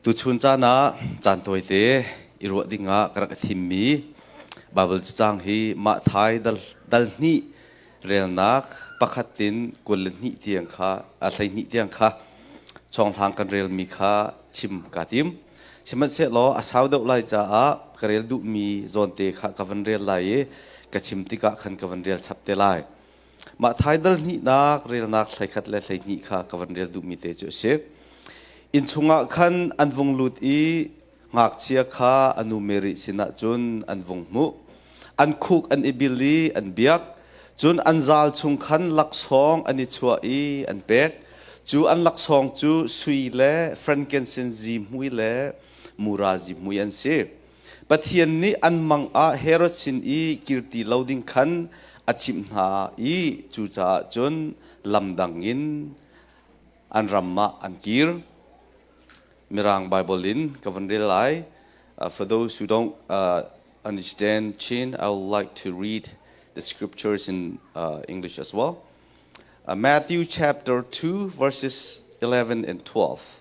Tuchun caan ah caan tawite i ruah ding ah ka rak i thimmi Baibal cacang hi Mathai dal, dal hnih relnak pakhat tin kul le hnih tiang kha a hleihnih tiang kha chonghlang kan relmi kha chim kaa tim. Sihmanhsehlaw a sau deuh lai caah ka rel duhmi zawnte kha ka van rel lai i ka chim tikah khan ka van rel chap te lai. Mah thaidal hnihnak relnak hleikhat le hleihnih kha ka van rel duhmi te cu a si. Innchung ah khan an vung lut i ngakchia kha a nu Mary sinah cun an vung hmuh. An khuk an i bil i an biak. Cun an zal chung khan laksawng an i chuah i an pek. Cu an laksawng cu sui le frankincense zihmui le mura zihmui an si. Pathian nih an mang ah Herod sin i kir ti lo ding khan a chimh hna i cucaah cun lamdang in an ram ah an kir. Mirang Bible in ka van rel lai. Uh, for those who don't uh, understand Chin, I would like to read the scriptures in uh, English as well. Uh, Matthew chapter 2, verses 11 and 12.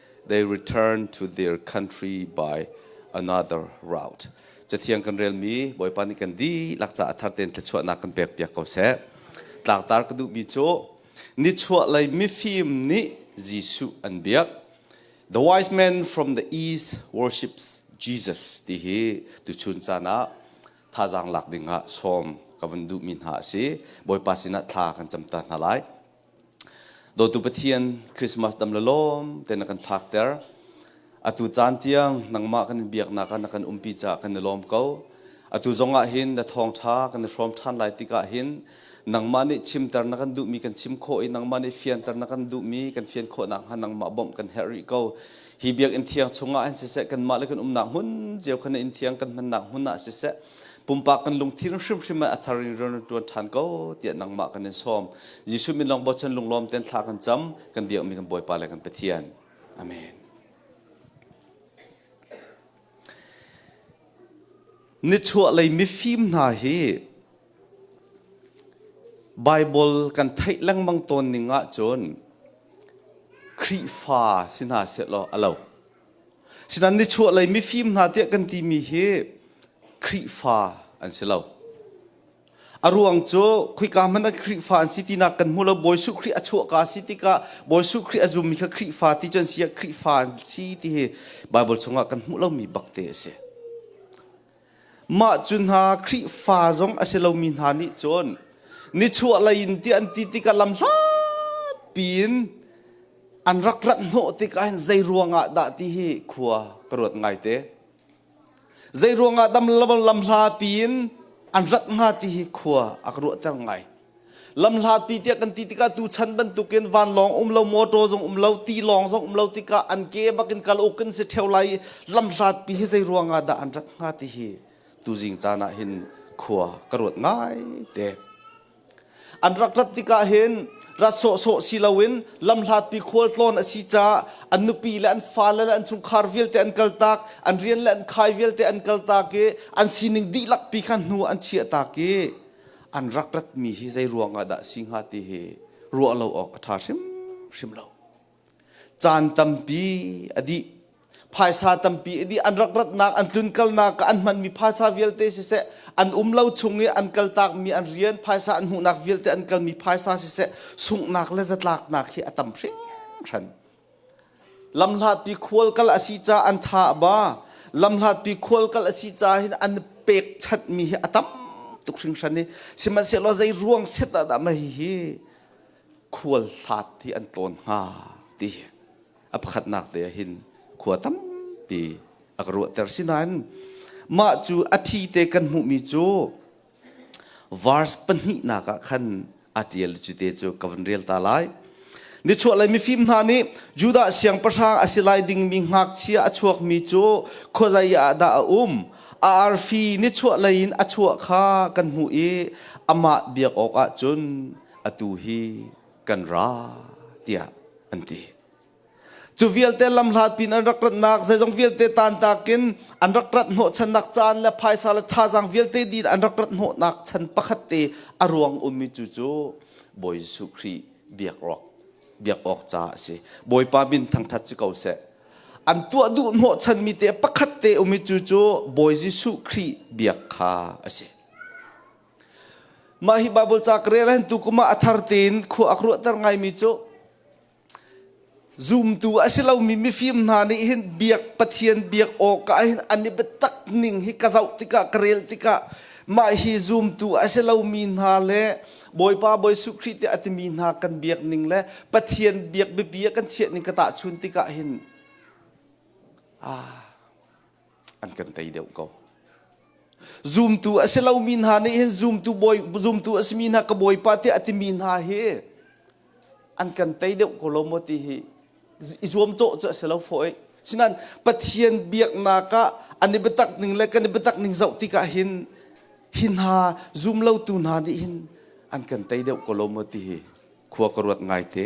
they return to their country by another route. Cathiang kan relmi Bawipa nih kan dihlak caah thar tein thluachuahnak kan pek piak ko seh. Tlaktar ka duhmi cu nichuah lei mifim nih Jesuh an biak. The wise men from the east worships Jesus ti hi tuchun caan ah thazaang lak ding ah sawm ka vun duhmi hna a si. Bawipa sinah thla kan cam ta hna lai. Dawtu Pathian Christmas dam la lawm te na kan thlak ter. Atu caan tiang nangmah kan biaknak ah na kan umpi ca kan i lawm ko. Atu zongah hin na thawngtha kan i hrawm ṭhan lai tikah hin nangmah nih chimter na kan duhmi kan chim khawh i nangmah nih fianter na kan duhmi kan fian khawh nakhnga nangmah bawmh kan herh rih ko. Hi biakinn thiang chungah hin siseh kanmah le kan umnak hmun cio khan in thiang kan hmannak hmun ah siseh pumpak kan lungthin hrimhrim ah a thar in rian ṭuan ṭhan ko tiah nangmah kan in sawm Jesuh min long bochan lunglawm ten thla kan cam kan biakmi kan Bawipa le kan Pathian amen nichuahlei mifim hna hi Bible kan theih lengmang tawn ning ahcun Khrihfa si hna sehlaw a lo Sinan nichuahlei mifim hna tiah kan timi hi Khrihfa an si lo. A ruang cu khoika hmanh ah Khrihfa an si tinak kan hmu lo. Bawi Suh Khrih a chuah ka si tikah Bawi Suh Khrih a zummi kha Khrihfa ti cun si ah Khrihfa an si ti hi Bible chungah kan hmuh lomi bakte a si. Mah cu hna Khrihfa zong a si lomi hna nih cun nichuahlei in tiah an ti tikah lamhlat piin an rak rat hnawh tikah hin zei ruangah dah ti hi khua ka ruat ngaite. Zei ruangah lam lamhla piin an rat hnga ti hi khua a ka ruahter ngai. lamhlatpi tiah kan ti tikah tuchan bantukin vanlawng um lo motor zong um lo ti lawng zong um lo tikah an ke bak in kal uk kan si theo lai lamhlatpi hi zei ruangah dah an rak hnga ti hi tuzing caan ah hin khua ka ruat ngai te an rak rat tikah hin rat sawhsawh si loin lamhlatpi khual tlawn a si ca an nupi le an fale le an chungkhar vialte an kal tak an rian le an khai vialte an kal tak i an sining dihlak pi kha hnu an chiah tak i an rak ratmi hi zei ruangah dah si hnga ti hi ruah lo awk a ṭha hrimhrim lo. Caan tampi a dih phaisa tampi a dih an rak ratnak an tlun kalnak an hmanmi phaisa vialte siseh an um lo chung i an kaltakmi an rian phaisa an hmuhnak vialte an kalmi phaisa siseh sunghnak le zatlaknak hi a tam hringhran Lamhlatpi khual kal a si caah an tha a ba. Lamhlatpi khual kal a si caah hin an pekchanhmi hi a tam tuk hringhran i sihmanhsehlaw zei ruang set ah dah mah hihi khual hlat hi an tlawn hnga ti a pakhatnak te ah hin khua tampi a ka ruahter. Sinain mah cu a thi te kan hmuhmi cu verse pahnihnak ah khan a ṭial cu te cu ka van rel ta lai nichuah lei mifim hna nih Judah siangpahrang a si lai dingmi ngakchia a chuakmi cu khuazei ah dah a um a arfi nichuah lei in a chuah kha kan hmuh i amah biak awkah cun atu hi kan ra tiah an ti Cu vialte lam hlatin an rak ratnak zeizong vialte tantak in an rak rat hnawhchannak caan le phaisa le thazaang vialte din an rak rat hnawhnak chan pakhat te a ruang ummi cu cu Bawi Jesuh Khrih biak awk biak awk ca a si. Bawipa min thangthat si ko seh. An tuah duh hnawhchanmi te pakhat te ummi cu cu Bawi Jesuh Khrih biak kha a si. Mah hi Bible ca ka rel hin tu kuma a thar tein khua ak ruahter ngaimi cu Zumtu a si lomi mifim hna nih hin biak Pathian biak awkah hin an i biatak ning hi ka zoh tikah ka rel tikah mah hi zumtu a si lomi hna le Bawipa Jesuh Khrih tiah a timi hna kan biak ning le Pathian biak biapi ah kan chiah ning ka tahchun tikah hin aa an kan tei deuh ko zumtu a si lomi hna nih hin zumtu bawi zumtu a simi hna ka bawipa tiah a timi hna hi an kan tei deuh ko lo maw ti hi i zuam cawh cu a si lo fo sinan pathian biaknak ah an i biatak ning le kan i biatak ning zoh tikah hin hi hna zum lotu hna nih hin an kan tei deuh ko lo maw ti hi khua ka ruat ngai te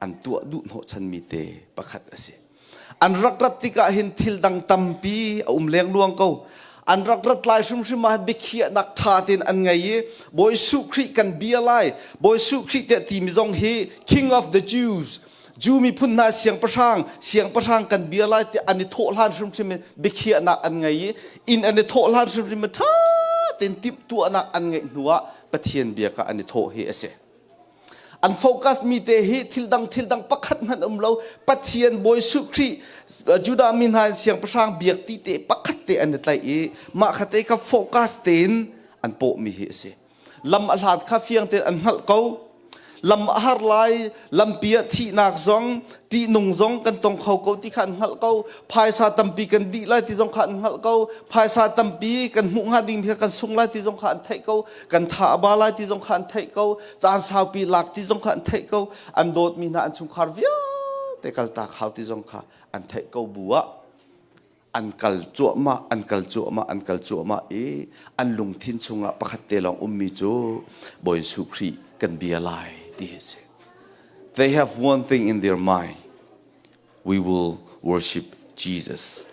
an tuah duh hnawhchanmi te pakhat a si. An rak rat tikah hin thil dang tampi a um lengluang ko. An rak rat lai hrimhrim ah biakhiahnak ṭha tein an ngei i Bawi Suh Khrih kan bia lai. Bawi Suh Khrih tiah timi zong hi King of the Jews Jew miphun hna siangpahrang siangpahrang kan bia lai tiah an i thawhhlan hrimhrim in biakhiahnak an ngei i inn an i thawhhlan hrimhrim in ṭha tein timhtuahnak an ngeih hnuah Pathian bia kha an i thawh hi a si. An focus mi te hi thil dang thil dang pakhat hmanh um lo Pathian Bawi Suh Khrih Judah mi hna in siangpahrang biak ti te pakhat te an i tlaih i mah kha te kha focus tein an pawh mi hi a si lam a hlat kha fiang tein an hngalh ko lam a har lai lampi ah thihnak zong ṭihnung zong kan tong kho ko ti kha an hngalh ko phaisa tampi kan dih lai ti zong kha an hngalh ko phaisa tampi kan hmuh hnga ding mi kha kan sung lai ti zong kha an theih ko kan tha a ba lai ti zong kha an theih ko caan saupi lak ti zong kha an theih ko an dawtmi hna an chungkhar vialte kalta khau ti zong kha an theih ko bu ah an kal cuahmah an kal cuahmah an kal cuahmah i an lungthin chungah pakhat te lawng ummi cu Bawi Jesuh Khrih kan bia lai ti hi si they have one thing in their mind we will worship Jesus.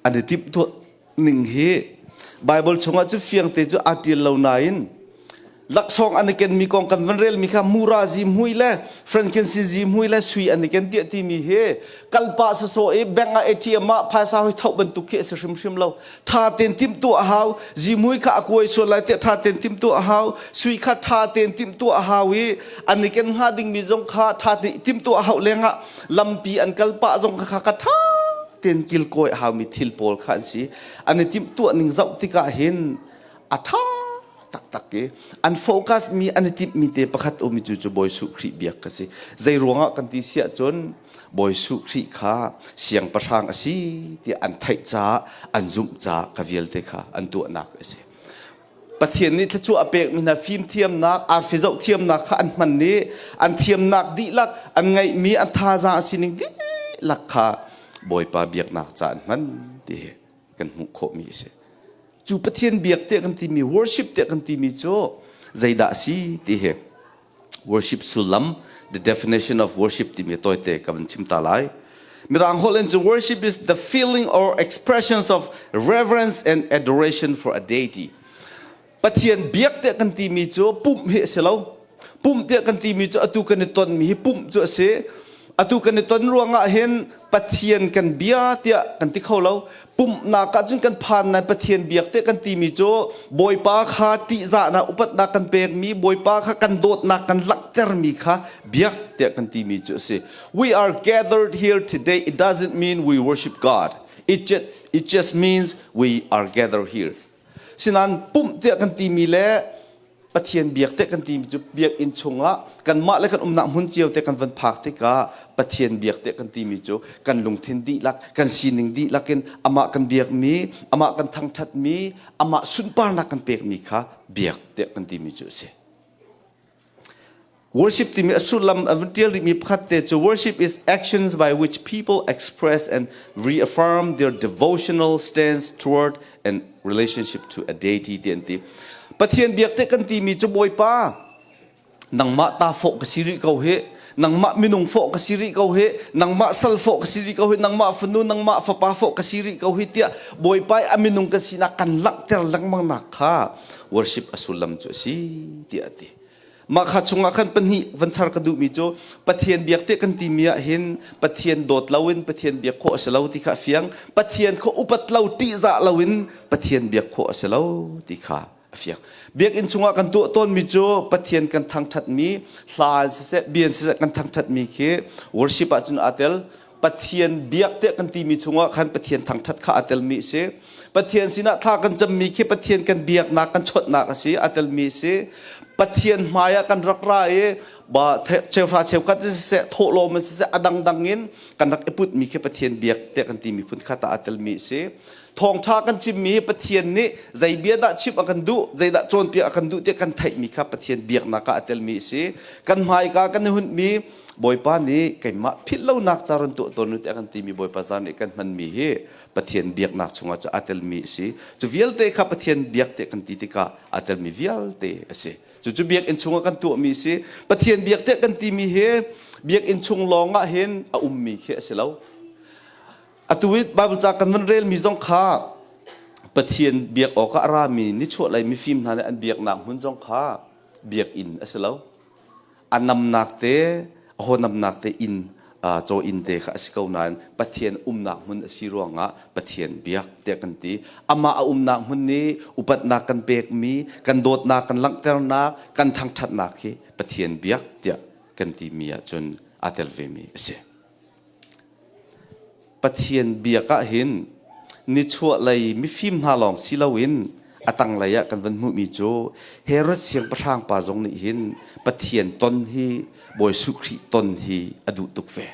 An i timhtuah ning hi Bible chungah cu fiangte cu aa tial lo nain laksawng an i ken mi kong kan van rel mi kha mura zi mui le frankinsi zi mui le sui an i ken tiah timi hi kalpa sasawh i bank ah atm ah phaisa hoi thauh bantuk khi a si hrimhrim lo tha ten tim tu a hau zimui kha a kuai sual lai tiah tha ten tim tu a hau sui kha tha ten tim tu a hau i an i ken hnga ding mi zong kha tha ten tim tu a hau lengah lampi an kal pah zong kha ka tha ten kil koi hau mi thil pawl kha an si an i tim tu ning zoh tikah hin a tha taktak ke an focus mi an i timh mi te pakhat umi cu cu Bawi Su Khrih biak ka si zei ruangah kan ti siah cun Bawi Su Khrih kha siangpahrang a si tiah an theih caah an zumh caah ka vialte kha an tuahnak a si Pathian nih thluachuah a pek mi hna fimthiamnak arfi zoh thiamnak kha an hman i an thiamnak dihlak an ngeih mi a thaza a sining dihlak kha Bawipa biaknak ca an hman ti hi kan hmuh khawh mi a si cu Pathian biak tiah kan timi worship tiah kan timi cu zeidah si ti hi worship sullam the definition of worship timi tawite ka van chim ta lai Mirang holh in worship is the feeling or expressions of reverence and adoration for a deity Pathian biak tiah kan timi cu pumh hi a si lo Pumh tiah kan timi cu atu kan i tonmi hi pumh cu a si. Atu kan i ton ruangah hin Pathian kan bia tiah kan ti kho lo. Pumhnak ahcun kan phan lai Pathian biak tiah kan timi cu Bawipa kha ṭihzahnak upatnak kan pekmi Bawipa kha kan dawtnak kan langhtermi kha biak tiah kan timi cu a si. We are gathered here today it doesn't mean we worship God. It just, it just means we are gathered here. Sinain pumh tiah kan timi le Pathian biak tiah kan timi cu biakinn chungah kanmah le kan umnak hmun cio te kan van phak tikah Pathian biak tiah kan timi cu kan lungthin dihlak kan sining dihlak in amah kan biakmi amah kan thangṭhatmi amah sunparnak kan pekmi kha biak tiah kan timi cu a si. Worship timi a sullam a vun tial rihmi pakhat te cu worship is actions by which people express and reaffirm their devotional stance toward and relationship to a deity ti an ti. Pathian biak te kan timi cu Bawipa nangmah ta fawh ka si rih ko hi nangmah minung fawh ka si rih ko hi nangmah sal fawh ka si rih ko hi nangmah fanu nangmah fapa fawh ka si rih ko hi tiah bawipa a minung ka sinak kan langhter lengmang nak kha worship a sullam cu a si tiah a ti mah kha chungah khan pahnih van char ka duhmi cu pathian biak te kan timi ah hin pathian dawt lo in pathian biak khawh a si lo ti kha fiang pathian kha upat lo ṭihzah lo in pathian biak khawh a si lo ti kha a fiak biakinn chungah kan tuah tawnmi cu pathian kan thangthatmi hla siseh bian siseh kan thangthatmi khi worship ahcun aa tel pathian biak tiah kan timi chungah khan pathian thangthat kha aa telmi si pathian sinah thla kan cammi khi pathian kan biaknak kan chawtnak a si a telmi si pathian hmaiah kan rak ra i ba cheuhra cheukhat siseh thawhlawm siseh a dangdang in kan rak i putmi khi pathian biak tiah kan timi phun kha ta a telmi si Thawngṭha kan chimmi hi Pathian nih zei bia dah chimh a kan duh, zeidah cawnpiak a kan duh tiah kan theihmi kha Pathian biaknak ah a telmi a si. Kan hmaika kan i hunhmi Bawipa nih keimah philhlonak ca run tuah tawn u tiah kan timi Bawipa zan nih kan hmanmi hi Pathian biaknak chungah cu aa telmi a si. Cu vialte kha Pathian biak tiah kan ti tikah aa telmi vialte a si. Cucu biakinn chungah kan tuahmi a si. Pathian biak tiah kan timi hi biakinn chung lawng ah hin a ummi khi a si lo. Atu i Baibal ca kan van relmi zong kha Pathian biak awkah a rami nichuahlei mifim hna nih an biaknak hmun zong kha biakinn a si lo. A namnak te, a honamnak te in caw inn te kha a si ko nain Pathian umnak hmun a si ruangah Pathian biak tiah kan ti. Amah a umnak hmun nih upatnak kan pekmi, kan dawtnak kan langhternak, kan thangṭhatnak hi Pathian biak tiah kan timi ahcun aa tel vemi a si. Pathian biak ahhin nichuahlei mifim hna lawng si loin a tanglei ah kan van hmuhmi cu Herod siangpahrang pa zong nih hin Pathian ton hi Bawi Suh Khrih ton hi a duh tuk ve.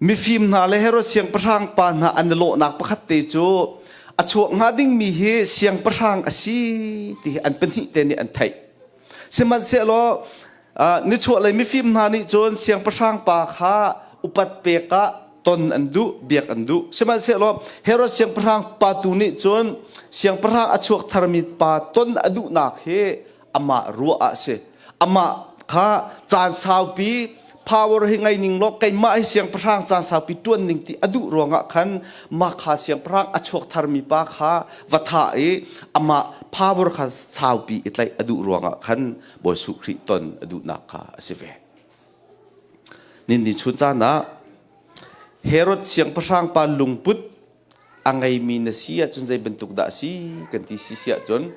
Mifim hna le Herod siangpahrang pa hna an i lawhnak pakhat te cu a chuah hnga dingmi hi siangpahrang a si ti hi an pahnih te nih an theih. Sihmanhsehlaw nichuahlei mifim hna nih cun siangpahrang pa kha upat pek ah ton an duh, biak an duh. Sihmanhsehlaw Herod siangpahrang pa tu nih cun siangpahrang a chuak tharmi pa ton a duhnak hi amah ruah ah si amah kha caan saupi power hi ngei ning law keimah hi siangpahrang caan saupi ṭuan ning ti a duh ruangah khan mah kha siangpahrang a chuak tharmi pa kha va thah i amah power kha saupi i tlaih a duh ruangah khan Bawi Suh Khrih ton a duhnak kha a si ve. Ninni chun caan ah Herod siangpahrang pa lungput a ngeimi na si ahcun zei bantuk dah a si kan ti si si ahcun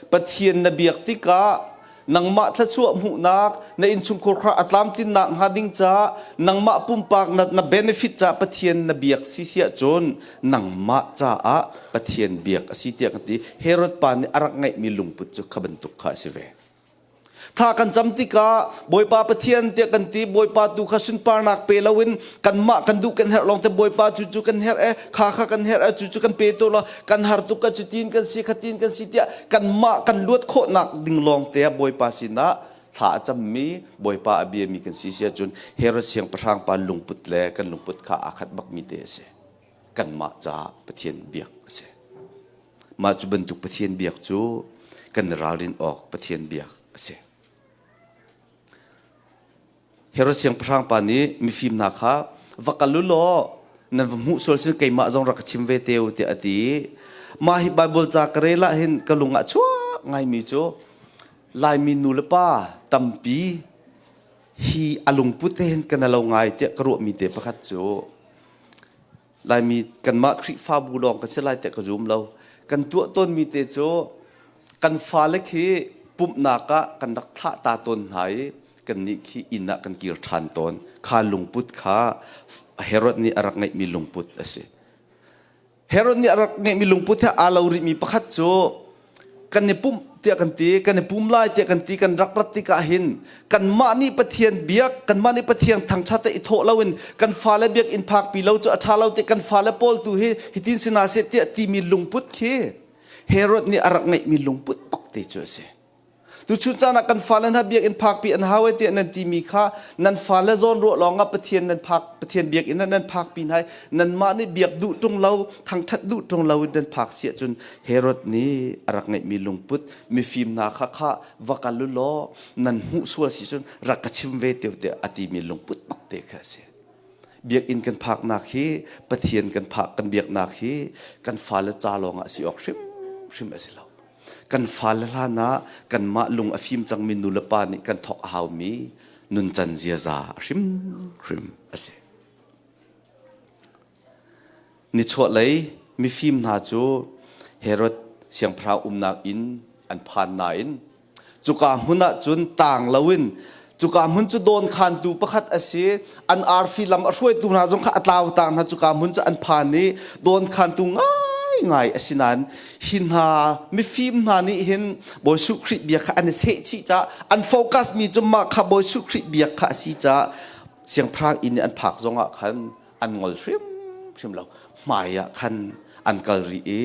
Pathian na biak tikah nangmah thluachuah hmuhnak na innchungkhur kha a tlamtlinnak hnga ding caah nangmah pumpak na, na benefit caah Pathian na biak si si ahcun nangmah caah Pathian biak a si tiah ka ti Herod pa nih a rak ngeihmi lungput cu kha bantuk kha a si ve Tha kan cam tikah Bawipa Pathian tiah kan ti Bawipa tu kha sunparnak pe loin kanmah kan duh kan herh long te Bawipa cu cu kan herh e kha kha kan herh e cu cu kan pe to lo kan har tuk ka cu tin kan si khatin kan si tiah kanmah kan luat khawhnak ding long te Bawipa sinah thla a cammi Bawipa a biami kan si sia cun Herod siangpahrang pa lungput le kan lungput kha aa khat bakmi te a si kanmah ca Pathian biak a si Mah cu bantuk Pathian biak cu kan ralrin awk Pathian biak a si. Herod siangpahrang pa nih mifim hna kha va kal u law nan va hmuh sual sin keimah zong rak ka chim ve te u tiah a ti i mah hi Baibal ca ka rel ah hin ka lung ah chuak ngaimi cu Laimi nu le pa tampi hi a lungput te hin ka na lo ngai tiah ka ruahmi te pakhat cu Laimi kanmah Khrihfabu lawng kan si lai tiah ka zum lo. Kan tuah tawnmi te cu kan fale khi pumhnak ah kan rak thlah ta tawn hna i kannih khi inn ah kan kir ṭhan tawn. Kha lungput kha Herod nih a rak ngeihmi lungput a si. Herod nih a rak ngeihmi lungput he aa lo rihmi pakhat cu kan i pumh tiah kan ti kan i pum lai tiah kan ti kan rak rat tikah hin kanmah nih Pathian biak kanmah nih Pathian thangtha te i thawh loin kan fale biakinn phakpi lo cu a ṭha lo tiah kan fale pawl tu hi hitin si na se tiah timi lungput khi Herod nih a rak ngeihmi lungput bak te cu a si Tuchun caan ah kan fale hna biakinn phakpi an hau tiah nan timi kha nan fale zawn ruah lawngah Pathian nan phak Pathian biakinn ah nan phakpi hna nanmah nih biak duh ṭung lo thangṭhat duh ṭung lo in nan phak si ahcun Herod nih a rak ngeihmi lungput mifim hna kha kha va kal u law nan hmuh sual si cun rak ka chim ve te tiah a timi lungput bakte kha a si biakinn kan phaknak hi Pathian kan phak kan biaknak hi kan fale ca lawngah si awk hrimhrim a si lo kan fale hlan ah kanmah lung a fim cangmi nulepa nih kan thawk a haumi nuncan ziaza a hrimhrim a si. Nichuahlei mifim hna cu Herod siangpahrang umnak in an phan nain cuka hmun ah cun taang loin cuka hmun cu dawnkhantu pakhat a si an arfi lam a hruaitu hna zong kha a tlautang hna cuka hmun cu an phan i dawnkhantu ngaingai a si nain hi hna mifim hna nih hin Bawi Suh Khrih bia kha an i sehchih ca an focus mi cu mah kha Bawi Suh Khrih bia kha a si ca siangpahrang inn i an phak zongah khan an ngol hrimhrim lo hmai ah khan an kal rih i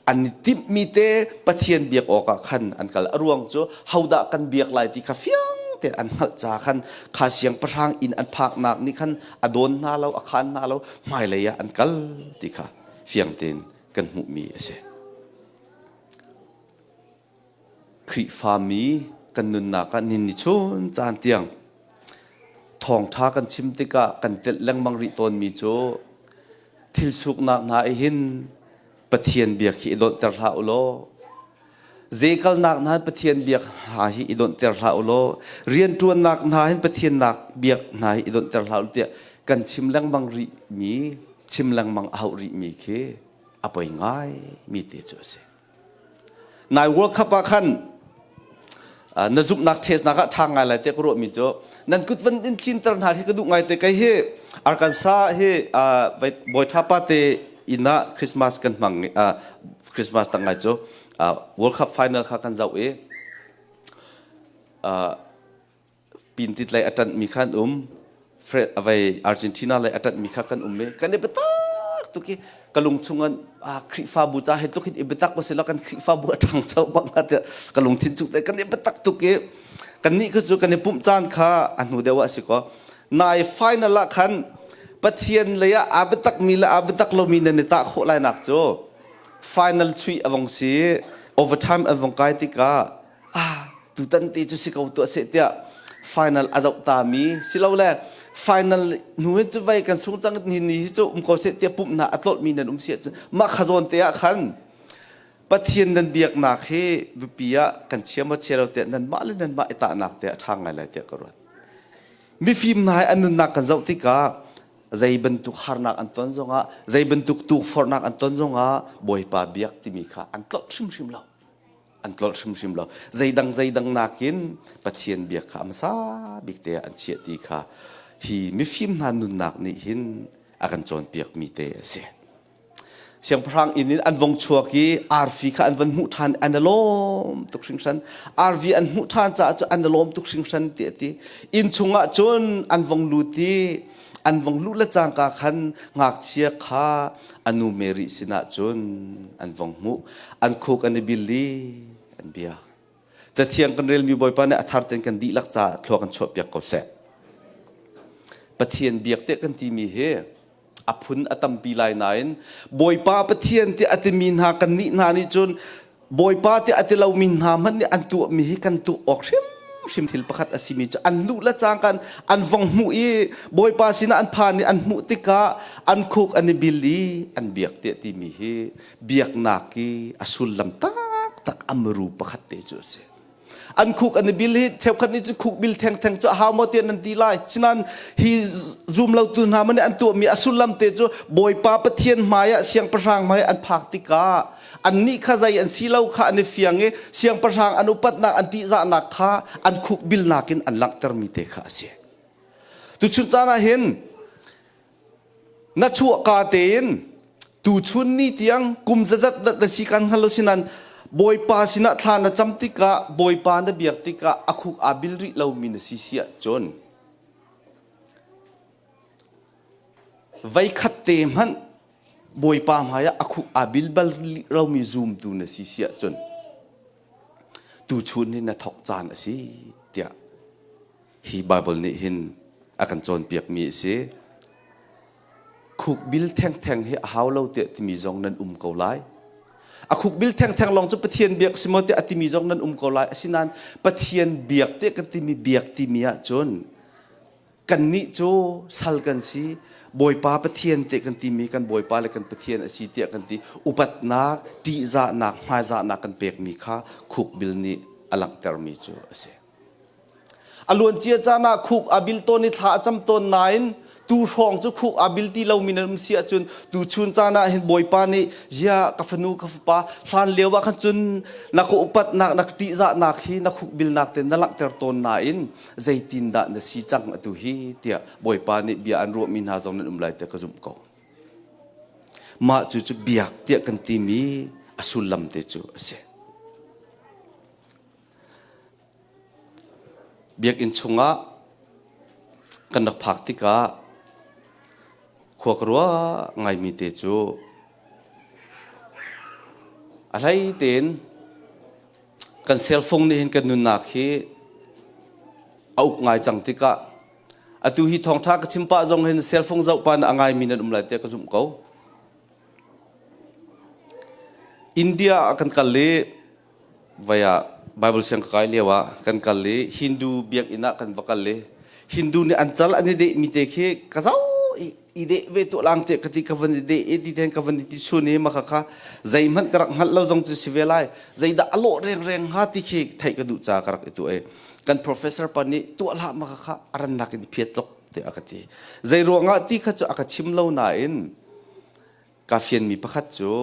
an i timhmi te Pathian biak awkah khan an kal a ruang cu hodah kan biak lai ti kha fiang te an hngalh ca khan kha siangpahrang inn an phaknak nih khan a dawn hna lo a khan hna lo hmailei ah an kal ti kha fiang tein kan hmuhmi a si Khrihfami kan nunnak ah nin i chun caan tiang thawngṭha kan chim tikah kan telh lengmang rih tawnmi cu thil suknak hna i hin Pathian bia khi i dawnhter hlah u law zekalnak hna Pathian bia hna hi i dawnhter hlah u law rianṭuannak hna hin Pathian bia hna hi i dawnhter hlah u tiah kan chim lengmang rihmi chim lengmang a hauh rihmi khi a poi ngaimi te cu a si. Nai World Cup ah khan na zumhnak ṭhesnak ah ṭha ngai lai tiah ka ruahmi cu nan kut van in tlinter hna khi ka duh ngai te kei hi Arkansas hi bawi ṭhapa te inn ah Christmas kan hmang Christmas tang ngai cu World Cup final kha kan zoh i pintit lei a ṭanhmi kha an um avei Argentina lei a ṭanhmi kha kan um i kan i biatak tuk i ka lung chungin Khrihfabu ca he tluk hin i biatak sila kan Khrihfabu a ṭhangcho bak hnga tiah ka lungthin chung kan i biatak tuk i kannih kha cu kan i pumh caan kha a hnu deuh ah a si ko nain final ah khan Pathian lei ah aa biatakmi le aa biatak lomi nan i tah khawh lainak cu final chuih a vong si overtime an vong kai tikah ah tutan te cu si ko tuah seh tiah final a zoh ta mi silole final nu hi cu vei kan sung cang ni ni hi cu um ko seh tiah pumh na a tlolh mi nan um sia cu mah khazawn te ah khan pathian nan biaknak hi biapi ah kan chia ma chia lo tiah nan mah le nan mah i tahnak te a ṭha ngai lai tiah ka ruat mifim hna an nunnak kan zoh tikah zei bantuk harnak an ton zongah zei bantuk tukforhnak an ton zongah bawipa biak timi kha an tlolh hrimhrim lo an tlolh hrimhrim lo zeidang zeidang nakin pathian bia kha a hmasa bik te an chiah ti kha hi mifim hna nunnak nih hin a kan cawnpiak mi te a si siangpahrang inn in an vong chuak i arfi kha an van hmuh ṭhan an a lawm tuk hringhran arvi an hmuh ṭhan caah cu an a lawm tuk hringhran ti a ti inn chungah cun an vong lut i an vong luh le cangka khan ngakchia kha anu Mary sinah cun an vong hmuh an khuk an i bil i an biak cathiang kan relmi bawipa nih a thar ten kan dihlak caah thluak an chuah piak ko seh pathian biak tiah kan timi hi a phun a tampi lai nain bawipa pathian tiah a timi hna kan nih hna nih cun Bawipa tiah a ti lomi hna hmanh nih an tuahmi hi kan tuah awk hrimhrim thil pakhat a simi cu an luh le cang kan an vong hmuh i Bawipa sinah an phan i an hmuh tikah an khuk an i bil i an biak tiah timi hi biaknak i a sullam taktak a muru pakhat te cu a si. an khuk an i bil hi cheukhat nih cu khuk bil thengtheng cu a hau maw tiah nan ti lai sinan hi zum lotu hna man an tuahmi a sullam te cu bawipa pathian hmaiah siangpahrang hmai an phak tikah an nih kha zai an si lo kha an i fiang i siangpahrang an upatnak an ṭihzahnak kha an khuk bilnak in an langhtermi te kha a si tuchun caan ah hin na chuahka tein tuchun ni tiang kum zazat dat na si kan hnalo sinan bawipa sinah thla na cam tikah bawipa na biak tikah a khuk aa bil rih lomi na si siah cun vaikhat te hmanh bawipa hmaiah a khuk aa bil bal romi zoomtu na si siah cun tu chun hi na thok caan a si tiah hi Bible nih hin a kan cawnpiakmi a si. Khuk bil thengtheng hi a hau lo tiah timi zong nan um ko lai. A khuk bil thengtheng lawng cu Pathian biak si maw tiah a timi zong nan um ko lai. Asinain Pathian biak tiah ka timi biak timi ah cun kannih cu sal kan si Bawipa Pathian tiah kan timi kan Bawipa le kan Pathian a si tiah kan ti upatnak ṭihzahnak hmaizahnak kan pekmi kha khuk bil nih a langhtermi cu a si. A luancia caan ah khuk a bil tawn i thla a cam tawn nain tu hrawng cu khuk a bil ti lomi na um si ahcun tu chun caan ah hin Bawipa nih ya ka fanu ka fapa hlan lio ah khan cun na ka upatnak na ṭihzahnak hi na khuk bilnak te na langhter tawn nain zeitindah na si cang atu hi tiah Bawipa nih bia an ruahmi hna zong nan um lai te ka zumh ko mah cu cu biak tiah kan timi a sullam te cu a si Biakinn chungah kan rak phak tikah khua ka ruah ngaimi te cu a hlei tein kan serfung nih hin kan nunnak hi a uk ngai cang tikah atu hi thawngṭha ka chim pah zong hin serfung zohpa in a ngaimi nan um lai tiah ka zumh ko. India ah kan kal i Vai ah Bible siang ka kai lio ah kan kal i Hindu biakinn ah kan va kal i Hindu nih an cal an i dehmi te khi ka zau i deh ve tuah lang te ka ti ka van i deh i ti then ka van i ti sun i maka kha zeihmanh ka rak hngalh lo zong cu si ve lai zeidah a lawh rengreng hnga ti khi theih ka duh ca ka rak i tu e kan professor pa nih tuah hlah maka kha a rannak in phiat tlok te a ka ti zei ruangah ti kha cu a ka chim lo nain Kaa fianmi pakhat cu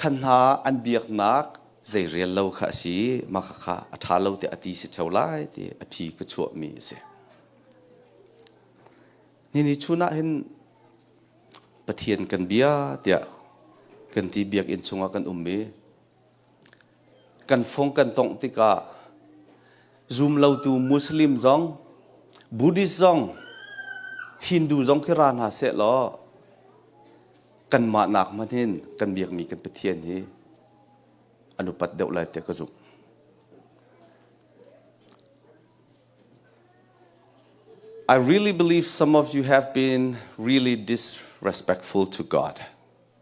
khan hna an biaknak zei rel lo kha a si i mah kha a ṭha lo tiah a ti si ṭheo lai ti a phi ka chuahmi a si. Nihin chun ah hin Pathian kan bia tiah kan ti biakinn chungah kan um i kan fung kan tongh tikah zum lotu Muslim zong Buddhist zong Hindu zong khi ra hna seh law kanmah nak hmanh hin kan biakmi kan Pathian hi an upat deuh lai tiah ka zumh. I really believe some of you have been really disrespectful to God.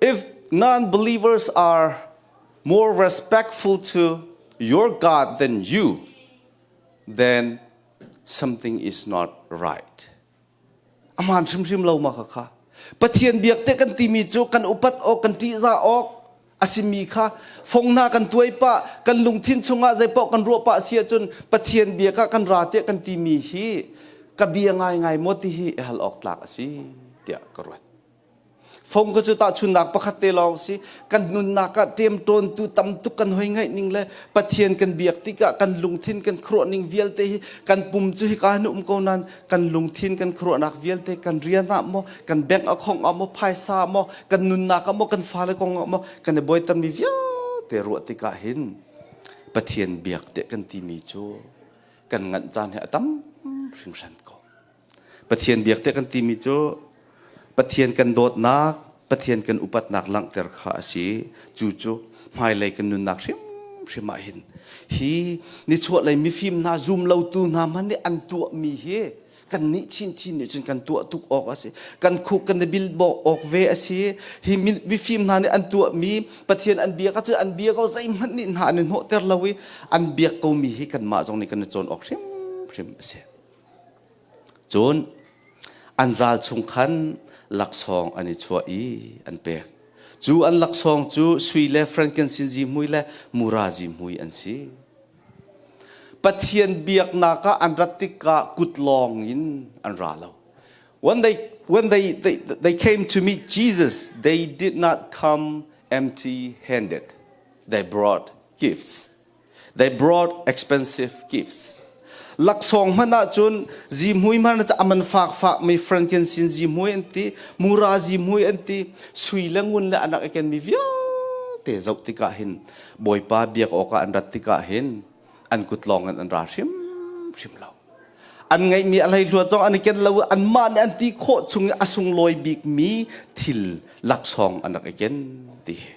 If non-believers are more respectful to your God than you, then something is not right. Aman hrimhrim lo ma khakha. Pathian biak te kan timi cu kan upat awk kan ṭihzah awk a simi kha fong hna kan tuai pah kan lungthin chungah zeipaoh kan ruah pah si ahcun pathian bia ka kan ra tiah kan timi hi ka bia ngaingai maw ti hi hal awk tlak a si tiah ka ruat fong ka cu tahchunnak pakhat te lawng si kan nunnak ah ṭemṭawntu tam tuk kan hoi ngaih ning le pathian kan biak tikah kan lungthin kan khuruah ning vialte hi kan pum cu hika hin um ko nan kan lungthin kan khuaruahnak vialte kan rian ah maw kan bank akhong ah maw phaisa maw kan nunnak ah maw kan fale kong ah maw kan i boitanmi vialte ruah tikah hin pathian biak te kan timi cu kan nganh caan he a tam hringhran ko pathian biak te kan timi cu Pathian kan dawtnak, Pathian kan upatnak langhter kha a si. Cu cu hmailei kan nunnak hrimhrim ah hin hi nichuahlei mifim hna zum lotu hna hmanh nih an tuahmi hi kannih chinchin nih cun kan tuah tuk awk a si kan khuk kan i bilbawk awk ve a si hi mifim hna nih an tuahmi pathian an bia ka cu an bia ko zeihmanh nih hna an i hnawhter lo i an biak komi hi kanmah zong nih kan i cawn awk hrimhrim a si Cun an zal chung khan laksawng an i chuah i an pek. Cu an laksawng cu sui le frankinsinzi hmui le murazi hmui an si. Pathian biaknak ah an rat tikah kut lawng in an ra lo. When they when they, they, they came to meet Jesus, they did not come empty handed. They brought gifts. They brought expensive gifts. Laksawng hman ahcun zihmui hman a man fak fak mi franken sin zihmui an ti mura zihmui an ti sui le ngun le anak eken mi vialte zoh tikah hin bawipa biak awk ah an rat tikah hin an kut lawng in an ra hrim hrim lo an ngeih mi alhei hluat zong an iken lo an mah nih an ti khawh chung i a sunglawi bik mi thil laksawng anak eken ti hi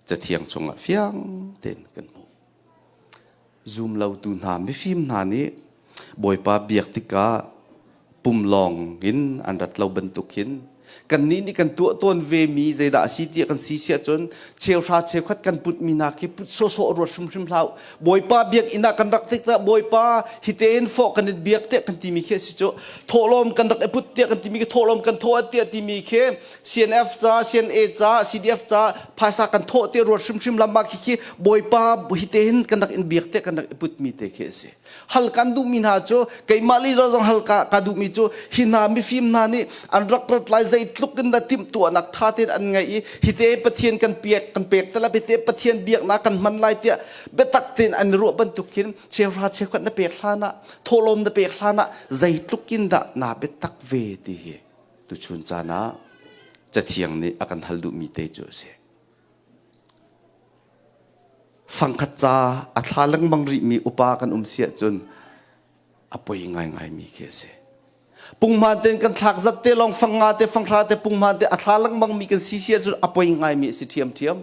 cathiang chungah fiang tein kan hmuh. Zoom lotu hna, mifim hna nih Bawipa biak tikah pum lawng in an rat lo bantuk hin kannih nih kan tuah tawn ve mi zeidah a si tiah kan si si ahcun cheuhra cheukhat kan putmi hna khi put sawsawh ruat hrimhrim hlah Bawipa biak inn ah kan rak tik tah Bawipa hitein fawh kan in biak tiah kan timi khi a si cu thawhlawm kan rak i put tiah kan timi khi thawhlawm kan thawh tiah timi khi CNF ca, CNA ca, CDF ca phaisa kan thawh te ruat hrimhrim lama khi khi bawipa hite hin kan rak in biak te kan rak i putmi te khi asi. Hal kan duhmi hna cu keimah lila zong hal ka, ka duhmi cu hi hna mifim hna nih an rak rat lai zei tluk in dah timhtuahnak tha tein an ngeih i hite Pathian kan pek kan pek te la hite Pathian biaknak kan hman lai tiah biatak tein an ruah bantukin cheuhra cheukhat na pek hlan ah thawhlawm na pek hlan ah zei tluk in dah naa biatak ve ti hi Tuchun caan ah Cathiang nih a kan hal duhmi te cu a si. Fangkhat ca a thla lengmang rihmi upa kan um si ahcun a poi ngaingaimi khi a si. Pungman te kan thlak zat te lawng fang nga te fanghra te pungman te a thla lengmang mi kan si si ahcun a poi ngaimi a si ṭhiamṭhiam.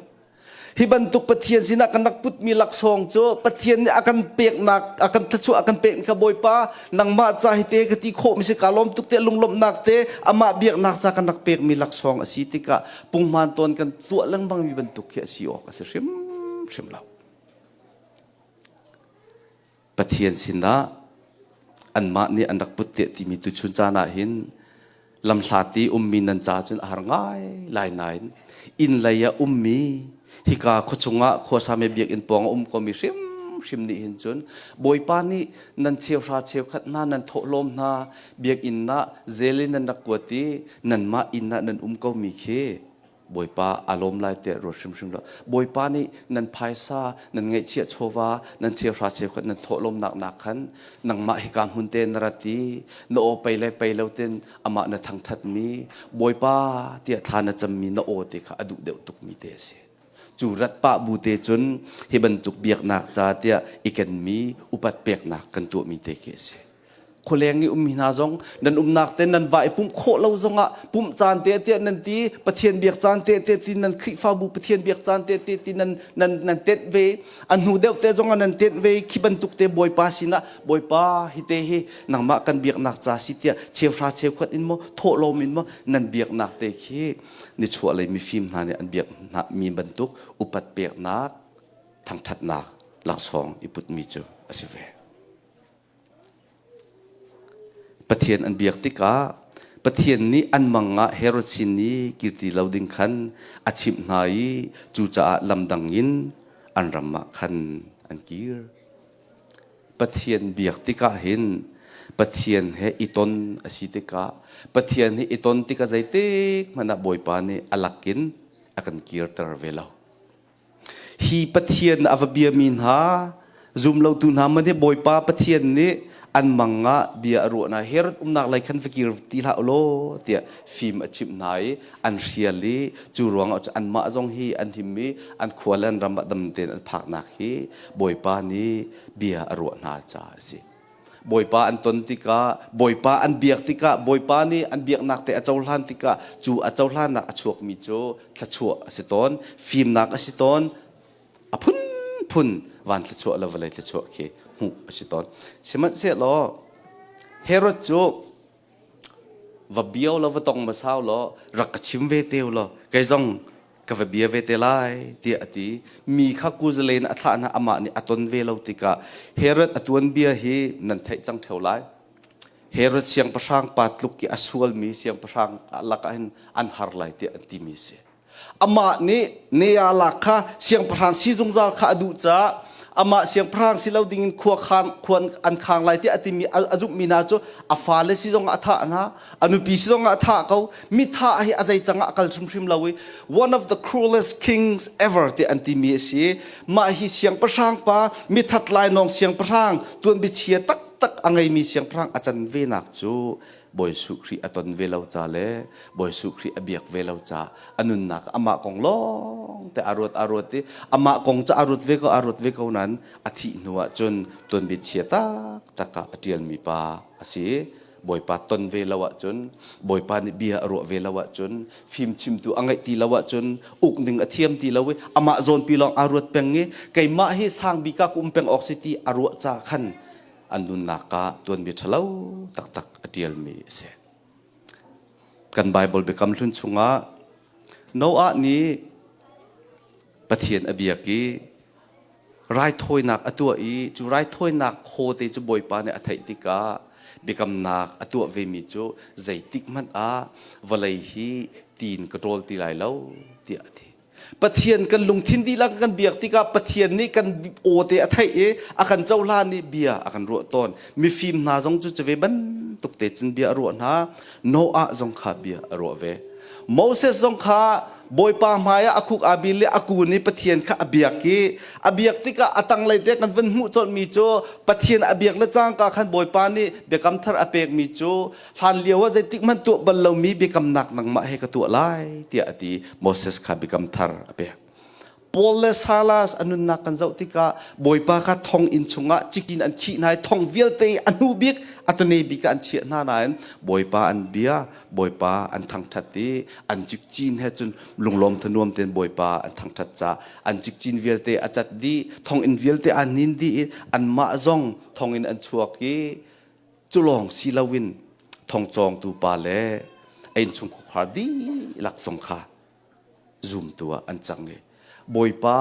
Hi bantuk Pathian sinah kan rak putmi laksawng cu Pathian nih a kan peknak a kan thluachuah a kan pek ni kha Bawipa nangmah ca hi te ka ti khawhmi si kaa lawm tuk te lunglawmhnak te amah biaknak ca kan rak pekmi laksawng a si tikah punghman tawn kan tuah lengmangmi bantuk khi a si awk a si hrimhrim lo. Pathian sinah anmah nih an rak put teh timi tuchun caan ah hin lamhlati ummi nan ca cun a har ngai lai nain inn lei a ummi hika khuachung ah khuasame biakinn pawng a um komi hrimhrim nih hin cun bawipa nih nan cheuhra cheukhat hna nan thawhlawm hna biakinn ah zel in nan rak kuat i nanmah inn ah nan um komi khi Bawipa a lawm lai teh ruat hrimhrim law Bawipa nih nan phaisa nan ngeihchiah chawva nan chiahra cheukhat nan thawhlawmnak nak khan nangmah hika hmun te na rat i na aw pei le pei lo ten amah na thangthat mi Bawipa tiah thla na cam mi na aw te kha a duh deuh tuk mi te a si cu rat pah bu te cun hi bantuk biaknak ca tiah i ken mi upat peknak kan tuah mi te khi a si khualeng i ummi hna zong nan umnak te nan va i pumh khawh lo zongah pumh caan te te nan ti pathian biak caan te te ti nan khrifabu pathian biak caan te te ti nan nan nan tenh ve a hnu deuh te zongah nan tenh ve khi bantuk te bawipa sinah bawipa hi te hi nangmah kan biaknak ca si tia cheuhra cheukhwat in mo thawhlawm in mo nan biaknak te khi ni chuah lei mifim hna nih an biak hna mi bantuk upat peknak thangthatnak laksawng i putmi cu a si ve Pathian an biak tikah Pathian nih an mang ah Herosin i kirti lo ding khan a chimh hna i cucaah lamdang in an ram ah khan an kir. Pathian biak tikah hin Pathian he i ton a si tikah Pathian he i ton tikah zeitik hmanh ah Bawipa nih a lak in a kan kirter ve lo. hi Pathian a va biami hna zumlotu hna man hi Bawipa Pathian nih an mang ah bia a ruah hna her umnak lei khan va kir ti hlah ulaw tiah fim a chimh hna i an hrial i cu ruangah cu anmah zong hi an him i an khua le an ram ah dam tein an phaknak hi Bawipa nih bia a ruah hna caah a si Bawipa an ton tikah, Bawipa an biak tikah, Bawipa nih an biaknak te a cohlan tikah, cu a cohlannak a chuakmi cu thluachuah a si tawn, fimnak a si tawn, a phunphun van thluachuah le vawlei thluachuah khi hmuh a si tawn. Sihmanhsehlaw Herod cu va bia lo va tong hmasa law rak ka chim ve te law kei zong ka va bia ve te lai tiah a ti mi kha kuzalen a thlah hna amah nih a ton ve lo tikah Herod a tuan bia hi nan theih cang theo lai Herod siangpahrang pa tluk i a sual mi siangpahrang ah lakah hin an har lai tiah an ti mi si Amah nih Neala kha siangpahrang si zungzal kha a duh caah amah siangpahrang si lo dingin khua khang khua an khang lai tiah a timi a zumhmi hna cu a fale si zongah a thah hna a nupi si zongah a thah ko mi thah hi a zei cangah a kal hrimhrim lo i one of the cruelest kings ever tiah an timi a si mah hi siangpahrang pa mithat lainawng siangpahrang tuanbiachia taktak a ngeimi siangpahrang a can venak cu Bawi Suh Khrih a ton ve lo ca le Bawi Suh Khrih a biak ve lo ca a nunnak amah kong lawng te a ruat a ruat i amah kong cu a ruat ve ko a ruat ve ko nan a thih hnu ah cun tuanbia chia taktak ah a ṭialmi pa a si Bawipa ton ve lo ah cun Bawipa nih bia a ruah ve lo ah cun fimchimtu a ngaih ti lo ah cun uk ning a thiam ti lo i amah zawnpi lawng aa ruat peng i keimah hi sang bika ka um peng awk si ti a ruah ca khan an nunnak ah tuanmi ṭhalo taktak a ṭialmi a si. Kan Baibal biakam hlun chungah Noah nih Pathian a biak i raithawinak a tuah i cu raithawinak khaw te cu Bawipa nih a theih tikah biakamnak a tuah vemi cu zeitik hmanh ah vawlei hi tiin ka ṭawl ti lai lo tiah a ti. Pathian kan lungthin dihlak kan biak tikah Pathian nih kan aw te a theih i a kan cohlan i bia a kan ruah tawn. Mifim hna zong cu cuve bantuk te cun bia a ruah hna. Noah zong kha bia a ruah ve. Moses zong kha Bawipa hmai ah a khuk aa bil i a kun i Pathian kha a biak i a biak tikah a tanglei te kan vun hmuh colhmi cu Pathian a biak le cangka khan Bawipa nih biakam thar a pekmi cu Hlan lio ah zeitik hmanh tuah bal lomi biakamnak nangmah he ka tuah lai tiah a ti Moses kha biakam thar a pek. Paul le Silas a nunnak kan zoh tikah Bawipa kha thong inn chungah cik in an khih hna i thong vialte a hnu bik a tane bik ah an chiah hna nain Bawipa an bia Bawipa an thangṭhat i an cikcin he cun lunglawm thanuam tein Bawipa an thangṭhat ca an cikcin vialte a cat dih thong inn vialte aa nin dih i anmah zong thong in an chuak i culawng si loin thongcawngtu pa le einchung khukhar dihlak zong kha zumtu ah an cang i bawipa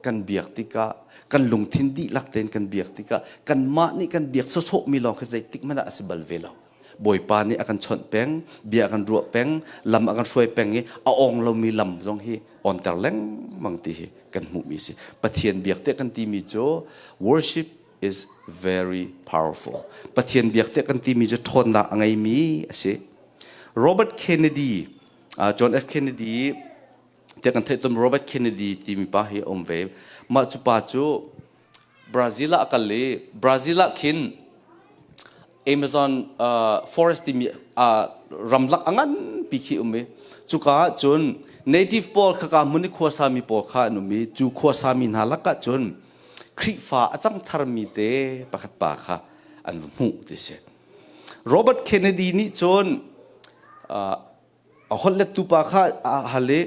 kan biak tikah kan lungthin dihlak tein kan biak tikah kanmah nih kan biak sawsawh mi lawng khi zeitik hmanh ah a si bal ve lo bawipa nih a kan chawnh peng bia a kan ruah peng lam a kan hruai peng i a ong lomi lam zong hi onter lengmang ti hi kan hmuhmi si pathian biak te kan timi cu worship is very powerful. Pathian biak tiah kan timi cu ṭhawnnak a ngeimi a si. Robert Kennedy, uh, John F. Kennedy, tiah kan theih tum Robert Kennedy timi pa hi a um ve. Mah cu pa cu Brazil ah a kal i Brazil ah khin Amazon uh, forest timi uh, ramlak a nganpi khi um i cuka ah cun native pawl khaka hmun i khuasami pawl kha an um i cu khuasami hna lakah cun Khrihfa a cang tharmi te pakhat pa kha an va hmuh ti si Robert Kennedy nih cun uh, a holh lettu pa kha a hal i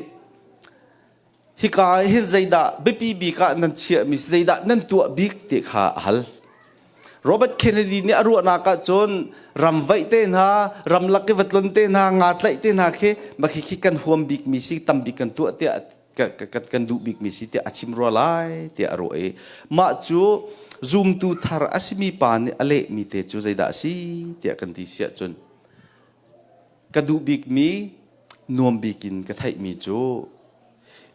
hika ah hin zeidah biapi bik ah nan chiahmi zeidah nan tuah bik ti kha a hal. Robert Kennedy nih a ruahnak ah cun ramvaih te hna, ramlak i vatlon te hna, nga tlaih te hna khi maki khi kan huam bikmi si, tam bik kan tuah tiah kan, kan, kan duh bikmi si tiah a chim rua lai tiah a ruah i mah cu zumtu thar a simi pa nih a lehmi te cu zeidah a si tiah kan ti siah cun Ka duh bikmi, nuam bikin ka theihmi cu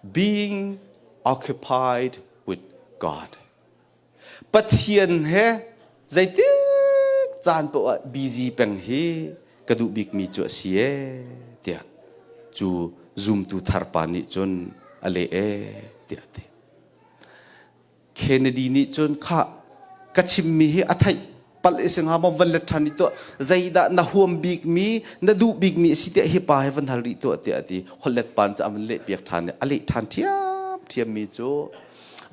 being occupied with God. Pathian he zeitik caan paoh ah busy peng hi ka duh bikmi cu a si e tiah cu zumtu thar pa nih cun a leh e tiah a ti. Kennedy nih cun khah ka chimmi hi a theih palh i si hnga maw van let ṭhan rih tuah zeidah na huam bikmi na duh bikmi a si tiah hi pa hi van hal rih tuah tiah a ti hollet pa cu a van lehpiak ṭhan i a leh ṭhan ṭhiam ṭhiammi cu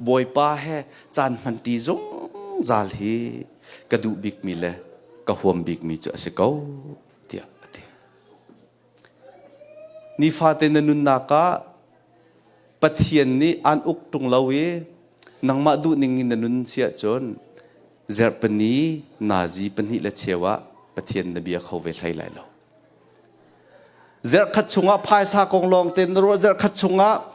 bawipa he caan hmanṭi zungzal hi ka duh bikmi le ka huam bikmi cu a si ko tiah a ti Nifate na nunnak ah Pathian nih aan uk ṭung lo i nangmah duhning in na nun si ahcun Zerh pahnih, nazi pahnih le cheu ah Pathian na bia kho ve hlei lai lo. Zerhkhat chungah phaisa kong lawngte na ruah, zerhkhat chungah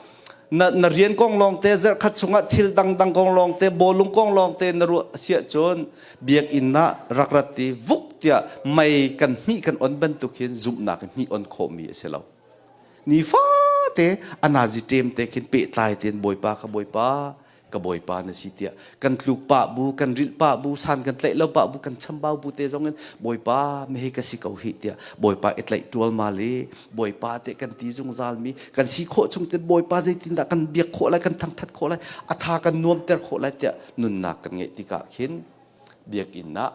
na, na rian kong lawngte, zerhkhat chungah thil dangdang kong lawngte, bawlung kong lawngte na ruah si ahcun biakinn ah rak rat i vuk tiah mei kan hnih kan on bantuk hin zumhnak hnih on khawhmi a si lo nifate anazi ṭem te khin pehtlai tein bawipa ka bawipa ka bawipa na si tiah kan tluk pa bu kan rilh pa bu san kan tlaih lo pa bu kan chambau bu te zong in bawipa mehe ka si ko hi tiah bawipa i tlaih tual mal i bawipa te kan ti zungzal mi kan si khawh chung tin bawipa zeitin dah kan biak khawh lai kan thangthat khawh lai atha kan nuam ter khawh lai tiah nunnak kan ngeih tikah khin biakinn ah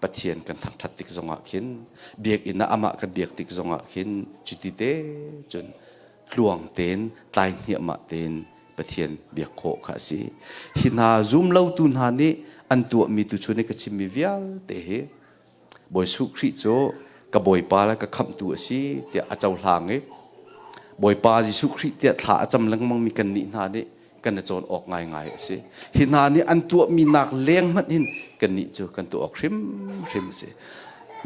Pathian kan thangṭhat tik zongah khin biakinn ah amah kan biak tik zongah khin cuti te cun tluang tein tlai hniahmah tein Pathian biak khawh kha a si hi hna zum lotu hna nih an tuahmi tu chun i ka chimmi vialte hi Bawi Suh Khrih cu ka Bawipa le ka khamhtu a si tiah a cohlang i Bawipa Jesuh Khrih tiah thla a cam lengmangmi kannih hna nih kan i cawn awk ngaingai a si. Hi hna nih an tuahmi nak leng hmanh hin kannih cu kan tuah awk hrimhrim a si.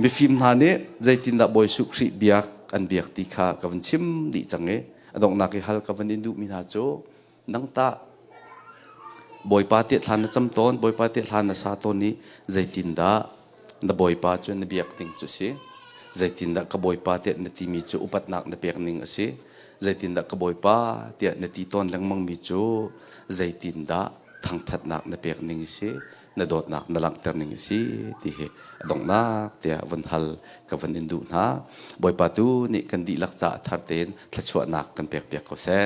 Mifim hna nih zeitindah Bawi Suh Khrih biak an biak ti kha ka vun chim dih cang i a donghnak i hal ka van i duhmi hna cu Nang tah Bawipa te thlan na cam tawn, Bawipa te thlan na sa tawn i zeitindah na Bawipa cu na biak ding cu si? Zeitindah ka Bawipa tiah na timi cu upatnak na pek ning a si? Zeitindah ka Bawipa tiah na ti tawn lengmang mi cu zeitindah thangṭhatnak na pek ning a si? na dawtnak na langhter ning a si ti hi a donghnak tiah vun hal ka vun in duh hna bawipa tu nih kan dihlak caah thar tein thluachuahnak kan pek piak ko seh